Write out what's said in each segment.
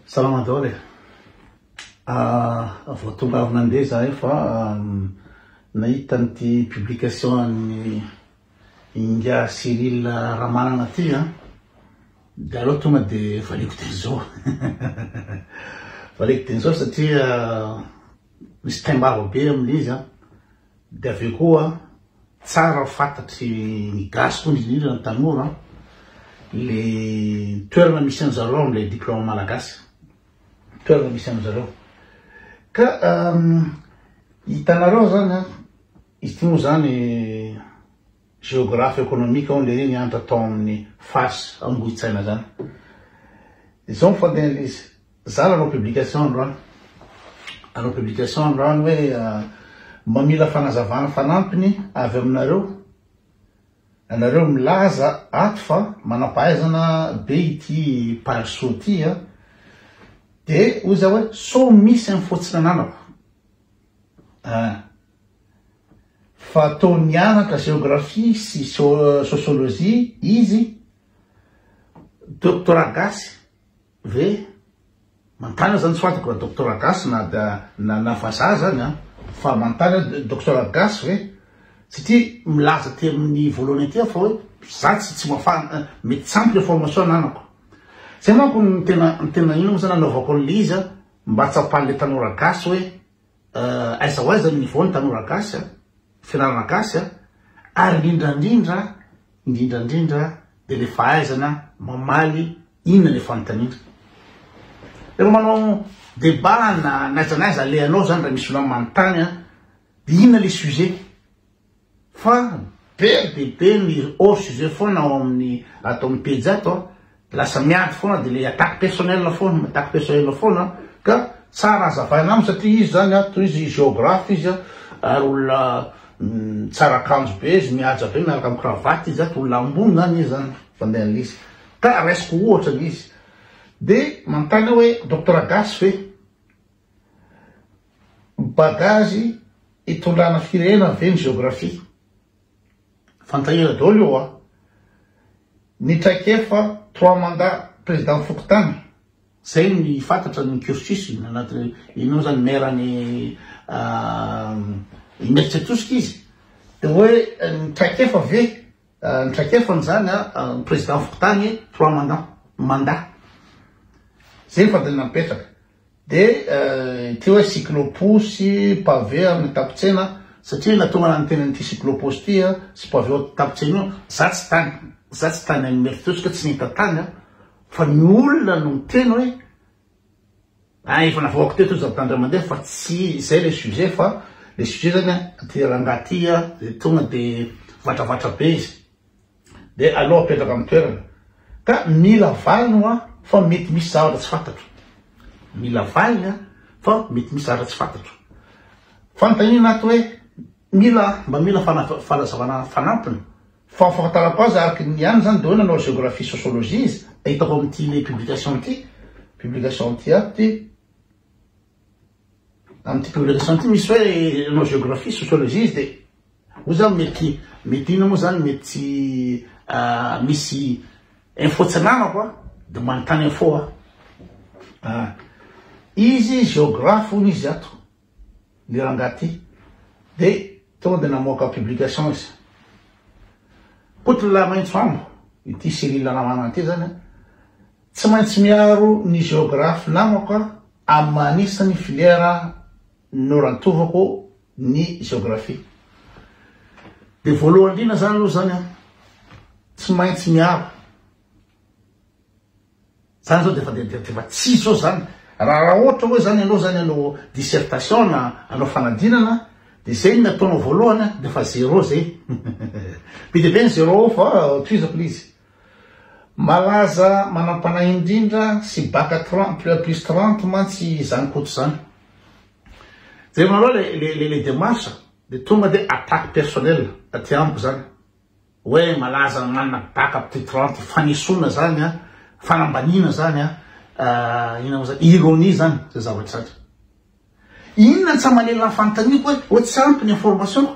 Salama daholo e! Ah, vao tonga avy nandeha zahay fa nahita an'ity publication an'i Ingahy Cyril Ramanana ty an, de aleo tonga de valiako teny zao valiako teny zao satria misy taim-bava be amin'ilay izy an, Dia avy eo koa tsara fantatry ny gasy koa indrindra ny tanora le toerana misy anjareo amle diploma malagasy toerana misy anjareo ka hitanareo zany izy ty moa zany Géographe économique aho le niantra tao amin'ny fas Ambohitsaina zany. Izao ny fantenin'ilay izy, za raha hanao publication androany, hanao publication androany hoe mamila fanazavana fanampiny avy aminareo, ianareo milaza ato fa manam-pahaizana be ity Pary Soa ity an, dia hoy za hoe sao misy amin'ny fotsinananako an. fa toa nianatra géographie sy sociologie izy, doctorat gasy ve? Manontany aho zany tsy fantako raha doctorat gasy na na na vazaha zany an! fa manontany aho doctorat gasy ve? satria milaza aty amin'ny voalohany aty aho fa hoe za tsy tsy mahafa-, mety tsy ampy le formation ananako. Zay manko no tena tena ino moa zany anaovako an'le izy an! mba hatsapan'le tanora gasy hoe. Euh aiza ho aiza ny niveau ny tanora gasy a, fianarana gasy a, ary indrindrandrindra indrindrandrindra de le fahaizana mamaly inona le fanontaniana. Refa manao debat na naiza naiza alehanao zany ra misy olona manontany a, de inona le sujet Fa be dia be ny hors sujet foana ao amin'ny ato amin'ny pejy ato an, lasa miady foana dia ilay attaque personnelle foana, mi-attaque personnelle foana ka tsara azavaina aminy satria izy izany an, tohizo izy géographe izy an, ary olona tsara akanjo be izy, mihaja be miaraka amin'ny cravate izy ato, olona ambony izany izy an, fandehan'ilay izy, ka raisiko ohatra ilay izy, dia manontany aho hoe Docteur Gasy ve? Bagage itondrana firenena ve ny géographie? Fantahira daholo io hoa. Ny traikefa trois mandats président fokontany. Zay ny fantatra ny cursus ny anaty iny moa zany maire any Imerintsiatosika izy de hoe ny traikefa ve ny traikefa ny zany ny président fokontany trois mandats mandat zay ny fandalina mipetraka Dia ity hoe cyclo-posy, pavé amin'ny tampon-tsena, satria nahatonga ahy niteny an'ity cyclo-posy ity sy pavé ao tampon-tsena io, za tsy tany, za tsy tany any Imerintsiatosika aho, tsy nahita tany aho, fa ny olona no niteny hoe, ah efa navoakako teto hoy Zandary Andriamandeha fa tsy izay ilay sujet fa ilay sujet izany an, ity rangahy ity izay tonga dia vatravatra be izy, Dia aleo apetraka amin'ny toerana. Ka mila valiny hoa fa mety misy zavatra tsy fantatro. Mila valiny an, fa mety misy zavatra tsy fantatro. Fanontaniana ato hoe mila mba mila fanazavana fanampiny. Fa fahafantarako azy araka ny ihany izany dia hoe nanao géographie sociologie izy. Hitako amin'ity le publication ity, publication ity ato ity. Amin'ity publication ity misy hoe ianao géographie, sociologie izy dia moa izany mety mety inona moa izany mety tsy misy info tsy ananako a dia manontany info aho. Ah, izy géographe hono izy ato ny rangahy ity dia tonga dia namoaka publication izy. Koto lahy maitso ambo ity Cyrille Ramanana ity izany a. Tsy maintsy miaro ny geographe namako aho amin'ny maha anisan'ny filière norantovako ny geographie. Dia voalohany indrindra izany aloha izany an, tsy maintsy miaro. Izany izao dia efa dia dia efa tsy izy izao izany. Raha raha ohatra hoe izany ianao izany hanao dissertation na hanao fanadinana dia izay no ataonao voalohany an, dia efa zéro izay. Be dia be ny zéro fa tohizako ilay izy. Malaza manam-panahy indrindra sy baka trente plus à plus trente mantsy izany koto izany. Jerenareo le le le le démarche de tonga de attaque personnelle aty amiko izany hoe malaza manana baka plus trente fanesoana izany an, fanambaniana izany an, inona moa izany, ironie izany izay zavatra izany. Inona no tsy aman'ela ny fanontaniako hoe hoe tsy ampy ny information-ko?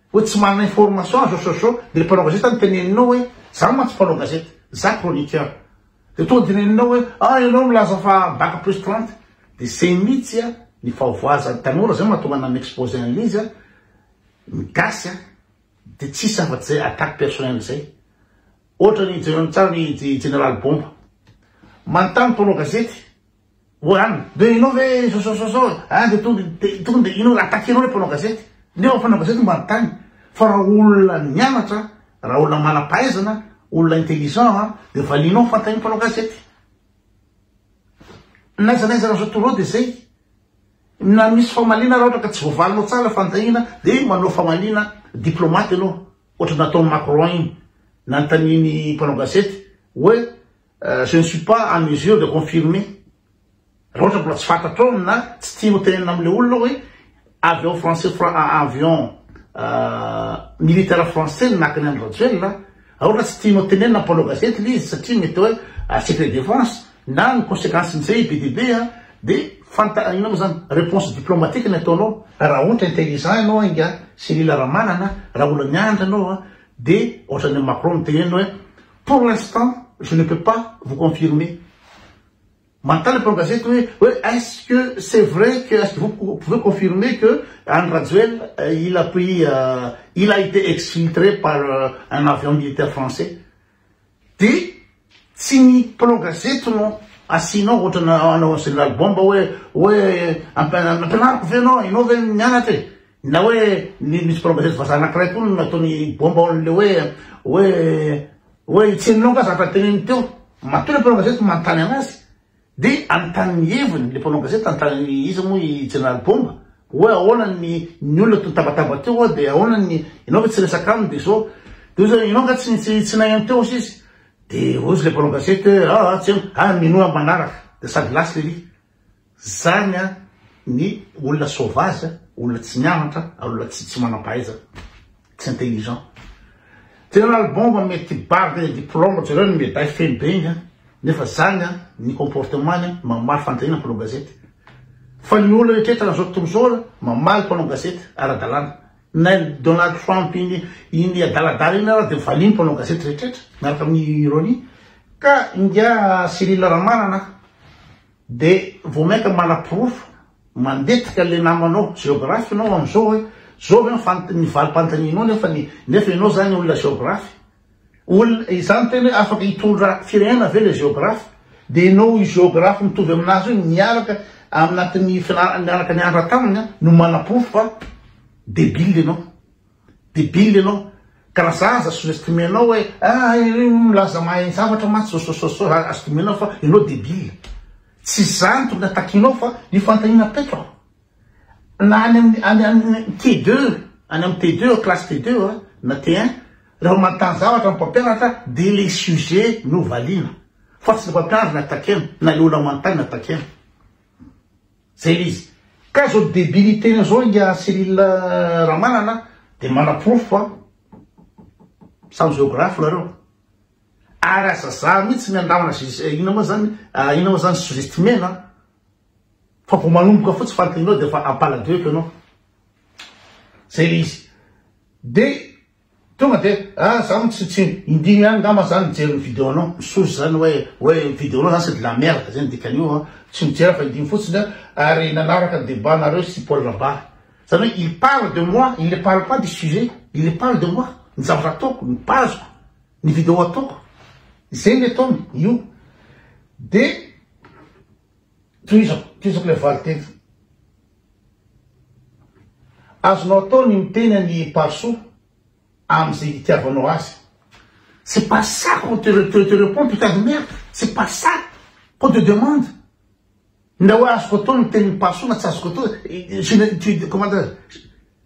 Hoe tsy manana information azo asosoo le mpanao gazety any teneninao hoe za mantsy mpanao gazety za chroniqueur de tonga de neninao hoe ah ianao milaza fa bac plus trente de zay mitsy a ny fahavoazany tanora zay mahatonga ana mi-exposer anle izy a ny gasy a de tsisy afatsy zay attaque personnelle zay otrany jereo tsara ny i jeneraly bomba manontany mpanao gazety Goran, dia ianao ve sôsôsôsô a, dia tonga dia tonga dia ianao attaquer anao ilay mpanao gazety, nefa ny mpanao gazety no manontany fa raha olona nianatra, raha olona manam-pahaizana, olona intelligent a, dia valianao ny fanontanian'ny mpanao gazety. N'aiza n'aiza raha zao tour dia izay, na misy famaliana raha ohatra ka tsy voavalinao tsara ilay fanontaniana dia manao famaliana diplomate ianao, ohatra ny nataon'i Macron iny nanontanian'ny mpanao gazety hoe. Je ne suis pas en mesure de confirmer raha ohatra mbola tsy fantatrao na tsy tianao hotenenina amin'ilay olona hoe avion français avion militaire français no naka ny andry Rajoelina raha ohatra tsy tianao tenenina mpanao gazety ilay izy satria mety hoe secret défense na ny conséquence nizay be dia be dia fanta inona moa zany réponse diplomatique ny ataonao raha ohatra intelligent ianao ingahy Cyril Ramanana raha olona miandry anao dia ohatran'ny Macron mitenena hoe Pour l'instant, je ne peux pas vous confirmer. Manontany mpanao gazety hoe hoe est-ce que c'est vrai que est-ce que vous pou- pouvez confirmer que Andry Rajoelina euh, il a pris euh, il a été exfiltré par euh, un avion militaire français. Dia tsy ny mpanao gazety no asianao ohatra na- anao général bomba hoe hoe ampiana- ampianariko ve ianao ianao ve nianatra e? Na hoe nisy bloggeuse vazaha anankiray koa no nataony bomba ao an'ilay hoe hoe hoe i Tsinona io nga zavatra teneniny teo. Matoa le mpanao gazety manontany anazy de anontany ny heviny le mpanao gazety anontany hoe iza moa i Jeneraly Bomba hoe ahoana ny ny olona to nitabataba teo hoe de ahoana ny ianao ve tsy resaka aminy de zao de hoy zany ianao nga tsy tsy tsy nahay teo hozy izy de hozy le mpanao gazety hoe aa tsena ah minoa manaraka de sady lasy lery Zany an ny olona sauvage an, olona tsy nianatra, olona tsy tsy manampahaizana, tsy intelligent. General Bomba mety barde et diploma jereo ny medaille feno be igny an, nefa zany an ny comportement-ny an mamaly fanontaniana mpanao gazety. Fa ny olona rehetra eto amzao tontolo zao an mamaly mpanao gazety ara-dalàna. Nay Donald Trump iny iny adaladala iny ary dia valiany mpanao gazety rehetra miaraka amin'ny ironie ka ingahy Cyril Ramanana dia vao mainka manaporofo mandetika le namanao géographe ianao amin'izao hoe zao ve ny fant- ny valim-panontanianao nefa ny nefa ianao zany olona géographe Olona, izany tena hoe afaka hitondra firenena ve ilay geographe? Dia ianao io geographe mitovy amin'azy io miaraka aminatin'ny fianarana miaraka nianatra taminy an, no manaporofo fa débile ianao. Débile ianao. Ka raha za aza sous-estimenao hoe ah iry io milaza mahay zavatra mantsy so so so so za azo dinihina fa ianao débile. Tsy izany tokony hatakianao fa io fanontaniana petra. na any amin'ny any amin'ny TD, any amin'ny TD, classe TD na T1, raha manontany zavatra ny mpampianatra dia ilay sujet no valiana fa tsy ny mpampianatra ny attaquer-na na ilay olona manontany no attaquer-na. Zay ilay izy. Ka izao debilité-ny izao ingahy Cyril Ramanana dia manaporofo fa samy géographe nareo. Ary aza zah mihitsy ny andramana inona moa zany, inona moa zany sous-estimer-na. Fa vao manomboka fotsiny fantaninao dia efa ampaladoiko ianao. Zay le izy. De tonga de ah za mo tsy tsy indimy ihany ngamba za nijery ny video anao. Misoza zany hoe hoe ny video anao zany c'est de la merde zay ny dikan'io an. Tsy mijery aho fa indimy fotsiny an. Ary nanaraka ny debat nareo sy Paul Rabary. Zany hoe il parle de moi, il ne parle pas du sujet. Il ne parle de moi, ny zavatra ataoko, ny page-ko, ny video ataoko. Zay ny ataony io. De. Tohizako, tohizako ilay valinteny. Azonao atao ny miteny an'i Parisoa amin'izay itiavanao azy. C'est pas ça qu'on te, te, te répond, putain de merde. C'est pas ça qu'on te demande. Na hoe azoko atao ny tenin'i Parisoa na tsy azoko atao, je ne, tu, comment dire,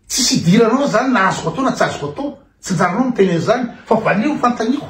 tsisy idiranao zany na azoko atao na tsy azoko atao. Tsy anjaranao miteny an'izany, fa valio fanontaniako.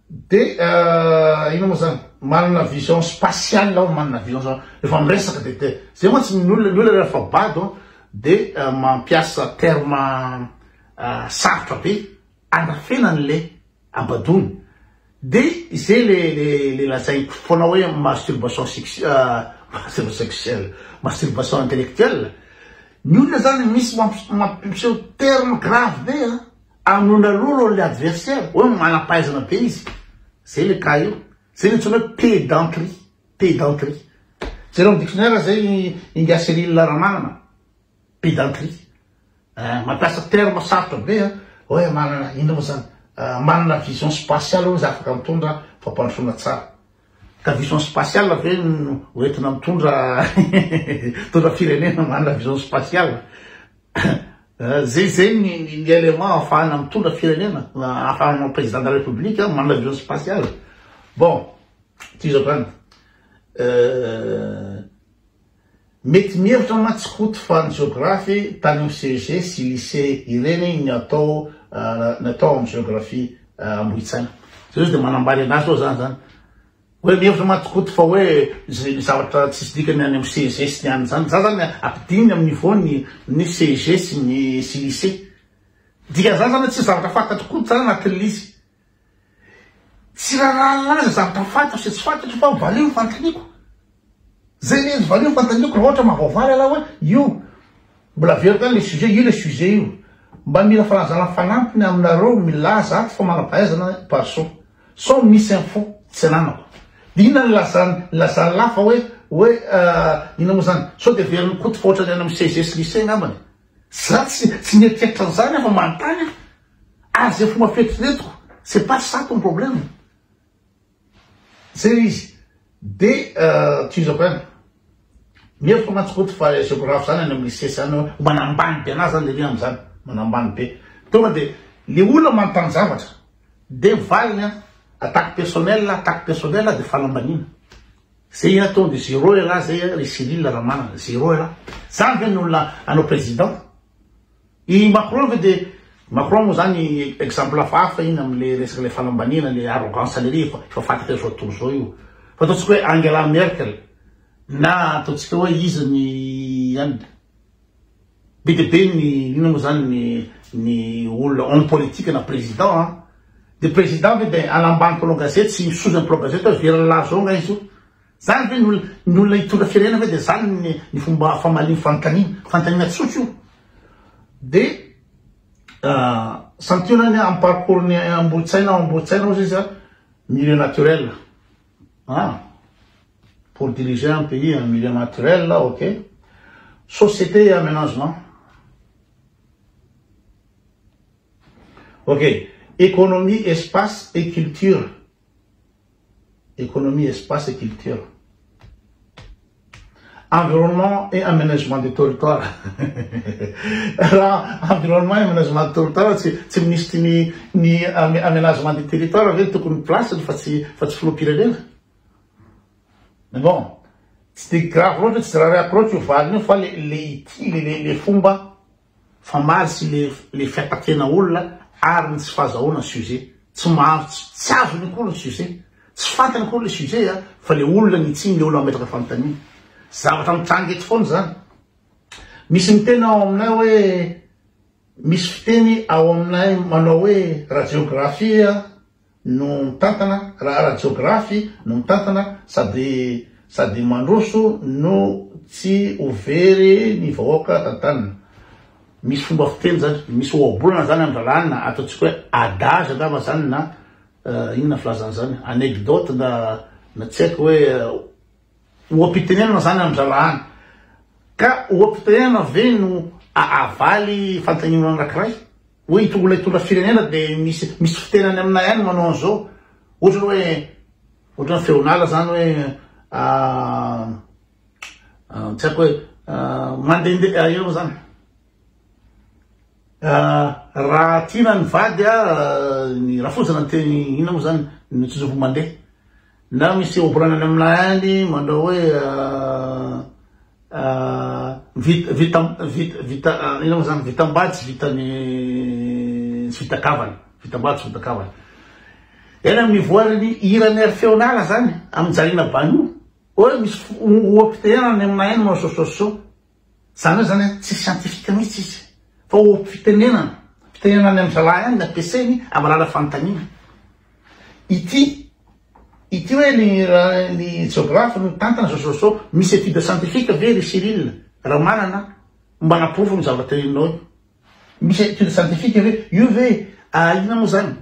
Dia inona moa zany? Manana vision spatiale aho, manana vision zany rehefa miresaka dia te- zay mantsy ny olona, ny olona rehefa bado an, dia mampiasa terme sarotra be andrafenany ilay habadoany. Dia izay le le le lazaiko foana hoe masturbation sex masturbation sexuelle, masturbation intellectuelle. Ny olona zany misy mampi- mampiseho terme grave be an! Amono aloha aloha le adversaire hoe manam-pahaizana be izy. Zay le cas io. Zay le antsoina hoe pédanterie. Pédanterie. Jereo am dictionnaire zay Ingahy Cyrille Ramanana. Pédanterie. Eh, mampiasa terme sarotra be an, hoe manana inona moa zany? manana vision spatiale hoe za afaka mitondra fampandrosoana tsara. Ka vision spatiale ve no ho entina mitondra mitondra firenena manana vision spatiale? Zay zay ny ny élément ahafahana mitondra firenena, ahafahana manao président de la république, manana avion spatial. Bon, ty zao zany, mety mihevitra mantsy Koto fa ny géographe tany amin'ny CEG sy lycée ireny ny atao ny atao amin'ny géographie Ambohitsaina. Zay zao dia manambany anazy zao zany zany. Hoe mihevitra mantsy Koto fa hoe misy zavatra tsisy dikany any amin'ny CEG sy ny any izany. Za zany ampidininy amin'ny niveau ny ny CEG sy ny sy lycée. Dikan'izany zany hoe tsisy zavatra fantatry Koto zany anatin'ny lisy. Tsy rarahana azy ny zavatra fantatro sy tsy fantatro fa valeo ny fanontaniako. Zay le izy valio fantaniako raha ohatra mahavaovao lalahy hoe io mbola averiko any le sujet io le sujet io mba mila fanazana fanampiny aminareo milaza ato fa manampahaizana parso sao misy info tsy ananako de inona ny lazany lazany lahy fa hoe hoe inona moa zany sao de verin'i koto fa ohatrany any amin'ny cgs lycée ngambany za tsy tsy mieritreritra an'zany aho fa manontany aho ary zay fomba fieritreretiko c'est pas ça ton problème Zay izy. Dia tohizo avy any. Mihevitra mantsy Koto fa géographe zany any amin'ny lycée zany hoe manambany be anazy zany le hoe amin'izany. Manambany be. Tonga dia le olona manontany zavatra dia valiny an, attaque personnelle, attaque personnelle dia fanambaniana. Zay an tonga dia zéro elah zay ry Cyrille Ramanana. Zéro elah. Zany ve ny olona hanao président? I Macron ve dia Macron moa zany exemple hafahafa iny amle resaka le fanambaniana le arrogance lery efa efa fantatra zao tontolo zao io fa ataontsika hoe Angela Merkel na ataontsika hoe iza ny any be dia be ny inona moa zany ny ny olona homme politique na président an dia président ve dia any ambany mpanao gazety sy misoza ny mpanao gazety hoe very ny lahazo ao nga izy io Zany ve ny ny olona hitondra firenena ve de zany ny ny fomba famaliany fanotaniana fantanina tsotra io de santionany am parcours ny ambolotsaina ao ambolotsaina ozy izy a milieu naturel ah pour diriger un pays en milieu naturel ok société et aménagement ok économie espace et culture Economie, Espace et Culture, Environnement et Aménagement du Territoire, raha Environnement et Aménagement du Territoire tsy tsy Minisitry ny ny Aménagement du Territoire ve tokony place-ny fa tsy fa tsy Filoham-pirenena? Mais bon, tsy dia grave loatra, tsy raraiako loatra io valiny io fa le le ity le le fomba Fa maro tsy le le fiatakena olona ary ny tsy fahazahoana sujet. Tsy mahazo tsy tsy azony akory ny sujet. Tsy fantany akory le sujet a fa le olona ny tsiny le olona mametraka fanontaniana. Zavatra mitranga eto foana zany. Misy miteny ao aminay hoe misy fiteny ao aminay manao hoe radiographie a. no mitantana raha ara-jiografy no mitantana sady sady mandroso no tsy ho very ny vahoaka tantanina. Misy fomba fiteny zany, misy ohabolana zany am drahalahy na ataontsika hoe adage angamba zany na inona filazana zany, anecdote na na tsy haiko hoe Oha-pitenenana izany an-dralahany. Ka oha-pitenenana ve no ahavaly fanteninana anankiray? Hoe ito olona hitondra firenena dia misy misy fitenany aminay ihany manao an'izao. Ohatra hoe ohatra ny feon'ala izany hoe tsy haiko hoe mandehandeha inona moa izany? Raha tiana ny vady, ny rafoja na ny teny inona moa izany ny tsizompo mandeha. Na misy ohabolana am lahainy manao hoe vita vita vita vita inona moa zany vitam-bady tsy vitan'ny tsy vita kavana vitam-bady tsy vita kavana eny am nivoaran'ny hiran'ny ry feonala zany am Jaliana Banu hoe misy oha-pitehana any am lahainy manao sosososô Zany hoe zany a, tsy scientifique mihitsy izy fa ho fitenenana, fitenenana any amin'ny zalahy any nampiasainy hamalala fanontaniana. Ity, ity hoe ny ny jeografy no mitantana zao zao zao, misy étude scientifique ve ry Cyrille Ramanana mba hanaporofo ny zavatra teneninao io? Misy étude scientifique ve io ve inona moa zany?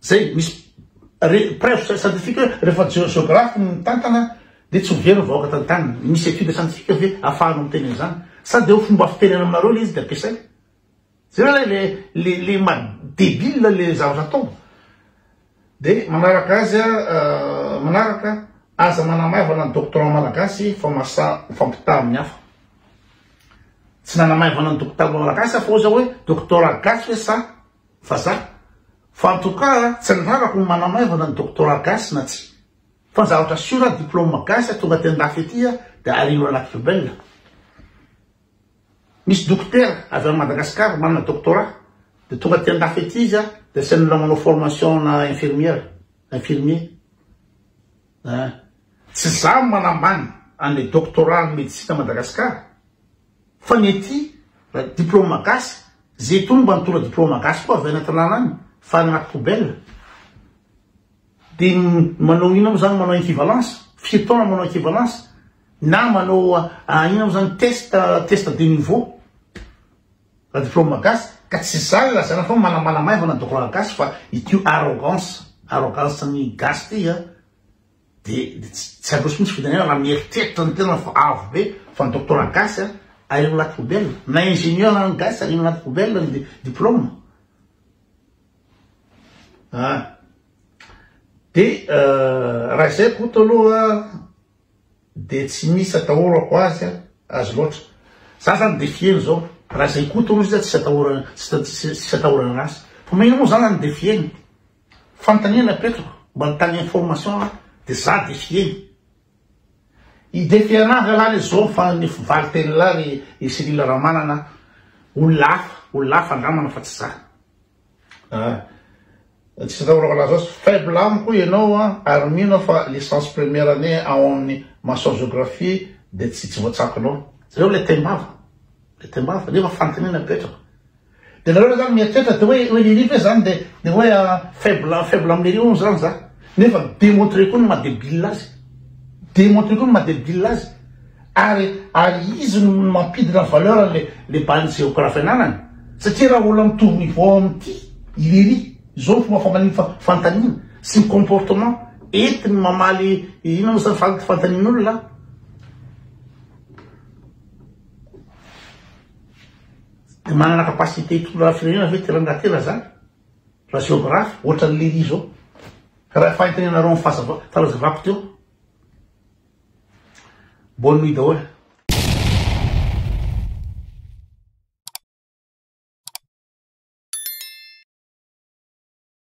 Zay misy preuve scientifique hoe rehefa geographe no mitantana dia tsy ho very ny vahoaka tantaniny. Misy étude scientifique ve afahanao miteny an'izany? Sa dia ho fomba fitenenana aminareo ilay izy dia ampiasaina? Jereo ilay le le le ma débile le zavatra ataony. Dia manaraka azy a manaraka aza manamaivana ny doctorant malagasy fa masa mifampitaha amin'ny hafa. Tsy nanamaivana ny doctorant malagasy aho fa hoy zao hoe doctorat gasy ve sa fa za. Fa en tout cas tsy ny rarako no manamaivana ny doctorat gasy na tsy. Fa ny zavatra sûr a diplôme gasy a tonga aty andafy aty a de arivo anaty poubelle. Misy dokotera avy any Madagascar manana doctorat de tonga aty andafy aty izy a de asian'ny olona manao formation ana infirmière, infirmier. An! Tsy za no manambany an'le doctorat an'ny medicine à Madagascar. Fa ny ety diploma gasy, ze itony mba nitondra diploma gasy koa avy any Atinana any, fa agnaty poubelle. De manao ino mo zany, manao equivalence, firy taona manao equivalence, na manao ino mo zany, test, test de niveau, raha diploma gasy, ka tsy zany ilazana fa manambana maivana diploma gasy fa ity arrogance, arrogance ny gasy ty a, Dia tsy handroso mihitsy fitenenana raha mieritreritra ny tenana fa avo be fa ny doctorat gasy a ahiana anaty poubelle, na ingénieur na ny gasy ahiana anaty poubelle ny diplôme a. Dia raha izay Koto aloha dia tsy misy atahorako azy a, azy loatra. Za zany défier ny zao, raha izay Koto aloha izy a tsisy atahorana, tsisy atahorana anazy. Fa maninona moa za zany défier-ny? Fanontaniana apetrako mba ny tany information de za de fieny. I DPA ranga lah le zao fa ny vali teny lah ry i Cyril Ramanana olona hafa olona hafa andramana fa tsy za. Ah. Tsisy atao raha laza azy faible amiko ianao an ary mino aho fa licence première année ao amin'ny maçon géographie dia tsy tsy voatsakonao. Zay hoe le taimbava. Le taimbava nefa fanontaniana apetrako. Dia nareo zany mieritreritra dia hoe hoe lery ve zany dia dia hoe faible faible am lery hono zany za. Nefa demontreko koa ny maha debile azy. Demontreko koa ny maha debile azy. Ary ary izy no mampidina valeur an'le le base géographe ananany. Satria raha olona mitovy niveau amity i lery zao ny fomba famaly fa fantanina sy ny comportement entiny mamaly inona moa zany fant fantanin'olona. Dia manana capacité hitondra firenena ve ty rangaha tera zany? Raha géographe, ohatran'i Léry zao. Ka raha efa entina ianareo amin'ny fahazava, fanazavako teo. Bonne nuit daholo.